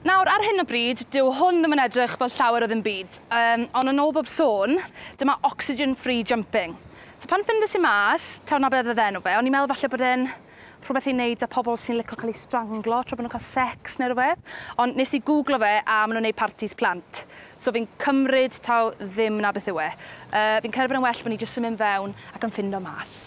Nawr, ar hyn o bryd, dyw hwn ddim yn edrych fel llawer o ddim byd, um, ond yn ôl bob sôn, dyma oxygen-free jumping. So pan ffindes i mas, taw na beth oedd enw fe, o'n i'n meddwl falle bod e'n rhywbeth i wneud â pobl sy'n licio cael eu stranglo tra bod nhw'n cael sex neu rhywbeth. Ond nes i googlo fe a maen nhw'n gwneud partis plant. So fi'n cymryd taw ddim na beth yw e. Uh, fi'n credu bod e'n well bod ni jyst yn mynd fewn ac yn ffindo mas.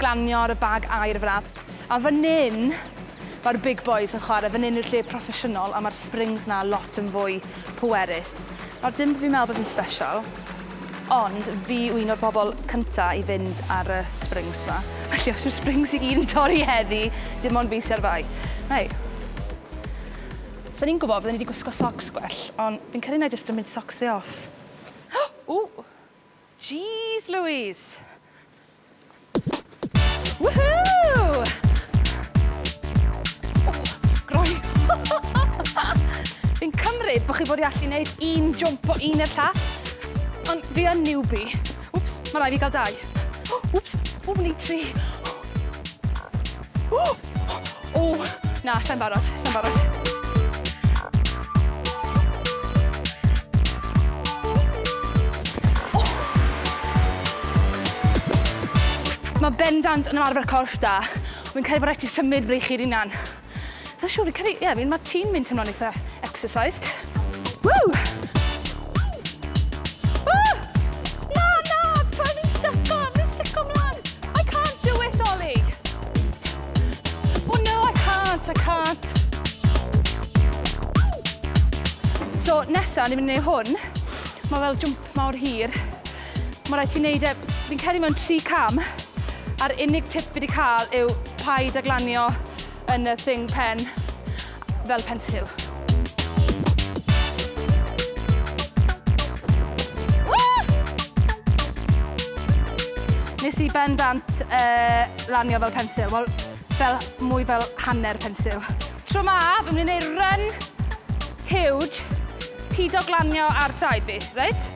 glanio ar y bag aer fel 'a. A fan 'yn mae'r big boys yn chwarae, fan 'yn yw'r lle proffesiynol a mae'r springs 'na lot yn fwy pwerus. Nawr dim bo' fi'n meddwl bod fi'n sbesial, ond fi yw un o'r bobl cynta' i fynd ar y springs 'ma. Felly os yw'r springs i gyd yn torri heddi, dim ond fi sy ar fai. Hei. Os 'da ni'n gwybod bydden ni 'di gwisgo socs gwell, ond fi'n credu wna i jyst gymryd socs fi off. Ww! Jeez Louise! Woohoo! Groen. Fi'n cymryd bod chi bod i allu gwneud un jump o un i'r llall, ond fi yn newbie. Wps, mae rai fi gael dau. Wps, o, ni tri. Wps! O, na, sai'n barod, sai'n barod. Mae bendant yn ymarfer corff da. Wy'n credu bod rhaid ti symud freichi'r unan. Mae'n siŵr, fi'n credu, ie, yeah, mae ti'n mynd teimlo'n eitha exercised. Ww! Ww! Na, na! Tra fi'n styco, fi'n styco mlan! I can't do it, Ollie! Oh no, I can't, I can't! So, nesa, ni'n mynd i neud hwn. Mae fel jwmp mawr hir. Mae rhaid ti neud e, fi'n credu mewn tri cam, a'r unig tip fi wedi cael yw paid a glanio yn y thing pen fel pensil. Nes i ben dant uh, lanio fel pensil, wel, fel, mwy fel hanner pensil. Tro ma, fy mynd i'n gwneud run huge, pido glanio ar traed fi, reit?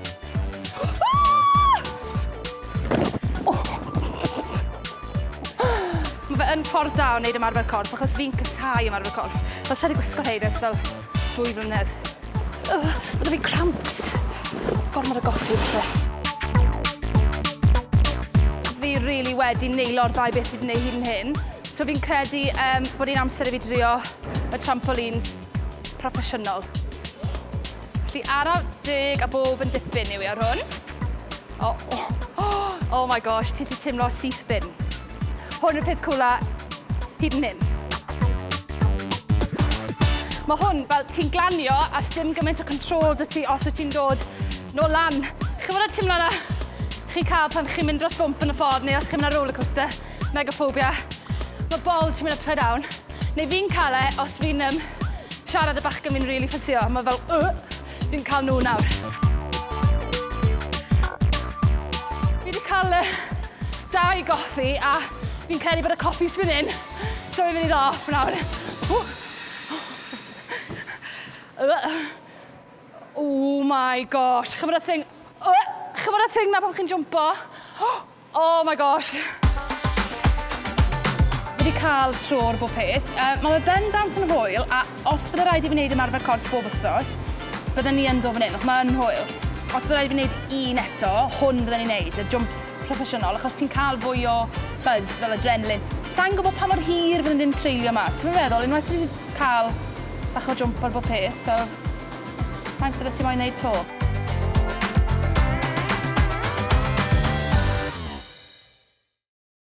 Mae fe yn ffordd da o wneud ymarfer corff achos fi'n casau ymarfer corff. Fel sa i 'di gwisgo rhein ers fel dwy flynedd. Ugh, ma' 'da fi cramps! Gormod o goffi falle. Fi rili wedi neilo'r ddau beth fi 'di neud hyd yn hyn. So fi'n credu yym bod hi'n amser i fi drio y trampolines proffesiynol. Felly ara deg a bob yn dipyn yw e ar hwn. O! Oh my gosh, ti 'di timlo C-spin. Hwn yw'r peth cwla hyd yn hyn. Mae hwn, fel ti'n glanio a sdim gymaint o control dy ti os wyt ti'n dod nôl lan. Chi'n gwybod y teimlad na chi'n cael pan chi'n mynd dros bwmp yn y ffordd neu os chi'n mynd ar rollercoaster, megaphobia. Mae bol ti'n mynd upside down. Neu fi'n cael e os fi'n um, siarad y bachgen fi'n rili really ffysio. Mae fel... Uh! Fi'n cael nhw nawr. Fi wedi cael y dau goffi a fi'n credu bod y coffi sy'n mynd in. So fi'n mynd i ddo off nawr. Oh my gosh, chymryd y thing... Chymryd y thing na pan chi'n jumpo. Oh my gosh! Fi wedi cael tro ar bob peth. Uh, mae fe bendant yn hwyl, a os bydde rhaid i fi wneud ymarfer corff bob wythnos, bydden ni yn do fan hyn, achos mae'n hwyl. Os bydde rhaid i fi wneud un eto, hwn bydden ni'n wneud, y jumps proffesiynol, achos ti'n cael fwy o buzz, fel adrenalin. Sa'n gwybod pa mor hir fydden ni'n treulio yma. Ti'n meddwl, unwaith ti'n cael bach o jump ar bob peth, fel Faint rwyt ti moyn wneud 'to?